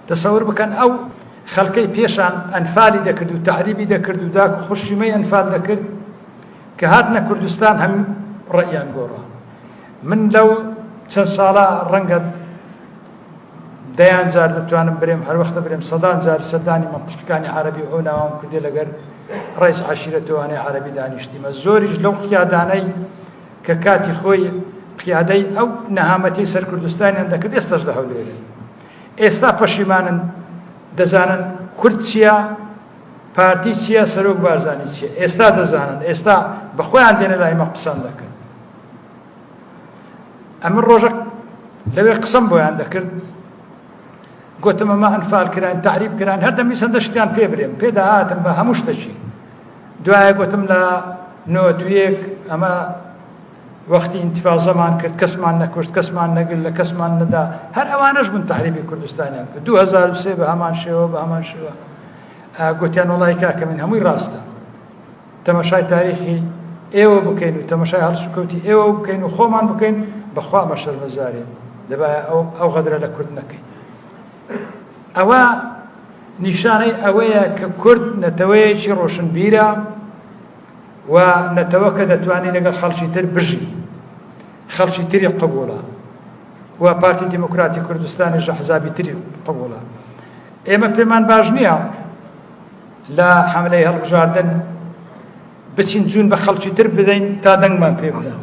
تەسەور بکەن ئەو خەلکەی پێشان ئەنفالی دەکرد و تعریبی دەکرد و داک و خوشیمەی ئەنفال دەکرد کە هاتنە کوردستان هەم ڕئیان گۆڕە من لەو چەند ساڵە ڕەنگە دەیان جار دەتوانم برێم هەروەختە برێم سەدان جار سەردانی منتقەکانی عربی ئەو ناوام کردێ لەگەر ڕێز عشیرەتوانێ عربی دانیشتیمە زۆریش لەو قیادانەی کە کاتی خۆی قیادەی ئەو نەهامەتی سەر کوردستانیان دەکرد ئێستاش لە هەولێرن ئێستا پەشیمانن دەزانن کورد چییە پارتی چییە سەرۆک بارزانانی چیە ئێستا دەزانن ئێستا بەخۆیان دێنە لای مە قسەم دەکرد ئەمە ڕۆژە لەوێ قسەم بۆیان دەکرد گوتم ئەمە ئەنفال کران تعریب کران هەردەمی سندە شتیان پێ برێم پێدا هاتم بە هەموو شتەچی دوایە گۆتم لە نۆت و یەک ئەمە وەختی ئینتیفازەمان کرد کەسمان نەکوشت کەسمان نەگر لە کەسمان نەدا هەر ئەوانەش بوون تحریبی کوردستانیان کرد 2023 بە هەمان شێوە بە هەمان شێوە گوتیان وڵی کاکە من هەمووی ڕاستە تەمەشای تاریخی ئێوە بکەین و تەمەشای هەڵسوکەوتی ئێوە بکەین و خۆمان بکەین بەخوا مەشەرمەزارین دەبایە ئەو ئەو غەدرە لە کورد نەکەین ئەوە نیشانەی ئەوەیە کە کورد نەتەوەیەکی ڕۆشنبیرە و نەتەوەکە دەتوانێت لەگەڵ خەڵکی تر بژی خەڵکی تری قبولە و پارتی دیموکراتی کوردستانی ژە حزابی تری قبولە ئێمە پێمان باش نییە لە حملەی هەڵبژاردن بچین جون بە خەڵکی تر بدەین تا دەنگمان پێ بدەن